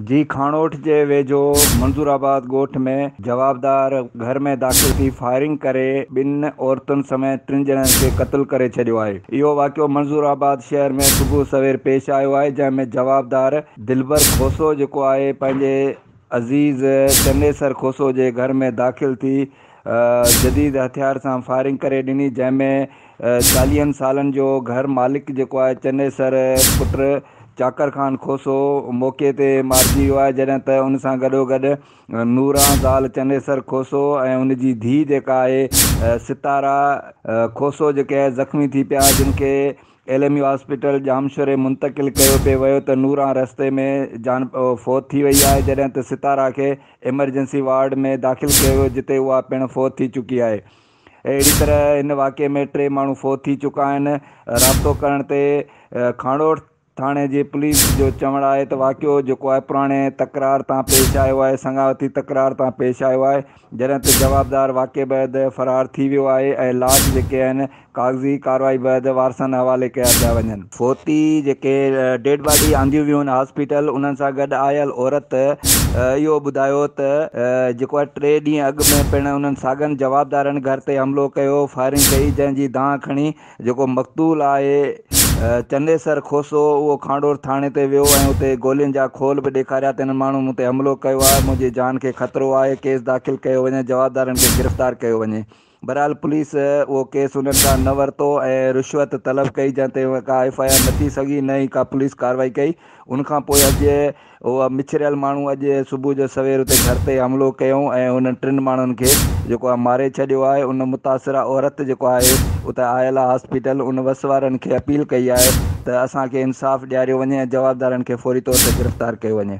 جي کاڻوٺ جي ويجهو منظور آباد ڳوٺ ۾ جوابدار گهر ۾ داخل ٿي فائرنگ ڪري ٻن عورتن سميت ٽن ڄڻن کي قتل ڪري ڇڏيو آهي اهو واقعو منظور آباد شهر ۾ صبح سوير پيش آيو آهي جنهن ۾ جوابدار دلبر کوسو جيڪو آهي پنهنجي عزيز چنيسر کوسو جي گهر ۾ داخل ٿي جديد هٿيار سان فائرنگ ڪري ڏني جنهن ۾ چاليهن سالن جو گهر مالڪ جيڪو آهي چنيسر پٽ چاڪر خان کوسو موقعي تي مارجي ويو آهي جڏهن ته ان سان گڏوگڏ نوران زال چنيسر کوسو ۽ ان جي ڌيء جيڪا آهي ستارا کوسو جيڪي زخمي ٿي پيا جن کي ايل ايم يو هاسپيٽل ڄامشوري منتقل ڪيو پي ويو ته نوران رستي ۾ جان فوت ٿي وئي آهي جڏهن ته ستارا کي ايمرجنسي وارڊ ۾ داخل ڪيو ويو جتي اها پڻ فوت ٿي چڪي آهي اهڙي طرح هن واقعي ۾ ٽي ماڻهو فوت ٿي چڪا آهن. رابطو ڪرڻ تي کانئڙوٺ ٿاڻي جي پوليس جو چوڻ آهي ته واقعو جيڪو آهي پراڻي تڪرار تان پيش آيو آهي، سڱاوتي تڪرار تان پيش آيو آهي، جڏهن ته جوابدار واقعي بعد فرار ٿي ويو آهي ۽ لاش جيڪي آهن ڪاغذي ڪارروائي بعد وارثن حوالي ڪيا پيا وڃن. فوتي جيڪي ڊيڊ باڊي آنديون ويون هاسپيٽل انهن سان گڏ آيل عورت اهو ٻڌايو ته جيڪو ٽي ڏينهن اڳ ۾ پڻ انهن ساڳن جوابدارن گهر تي حملو ڪيو فائرنگ ڪئي جنهن جي دانهن کڻي جيڪو مقتول آهي چنيسر کوسو اهو کانڊور ٿاڻي تي ويو ۽ اتي گولين جا کول به ڏيکاريا ته انهن ماڻهن مون تي حملو ڪيو آهي منهنجي جان کي خطرو آهي ڪيس داخل ڪيو وڃي جوابدارن کي گرفتار ڪيو وڃي. بھرحال پوليس اھو ڪيس انھن کان نه ورتو ۽ رشوت طلب ڪئي جنھن تي ڪا ايف آء آر نه ٿي سگھي نه ئي ڪا پوليس ڪارروائي ڪئي ان کان پوء اڄ اھو مڇريل ماڻھو اڄ صبح جو سوير اتي گھر تي حملو ڪيائون ۽ انھن ٽن ماڻھن کي جيڪو آھي ماري ڇڏيو آھي ان متاثره عورت جيڪو آھي اتي آيل آھي ھاسپيٽل ان وس وارن کي اپيل ڪئي آھي ته اسان کي انصاف ڏياريو وڃي ۽ جوابدارن کي فوري طور تي گرفتار ڪيو وڃي.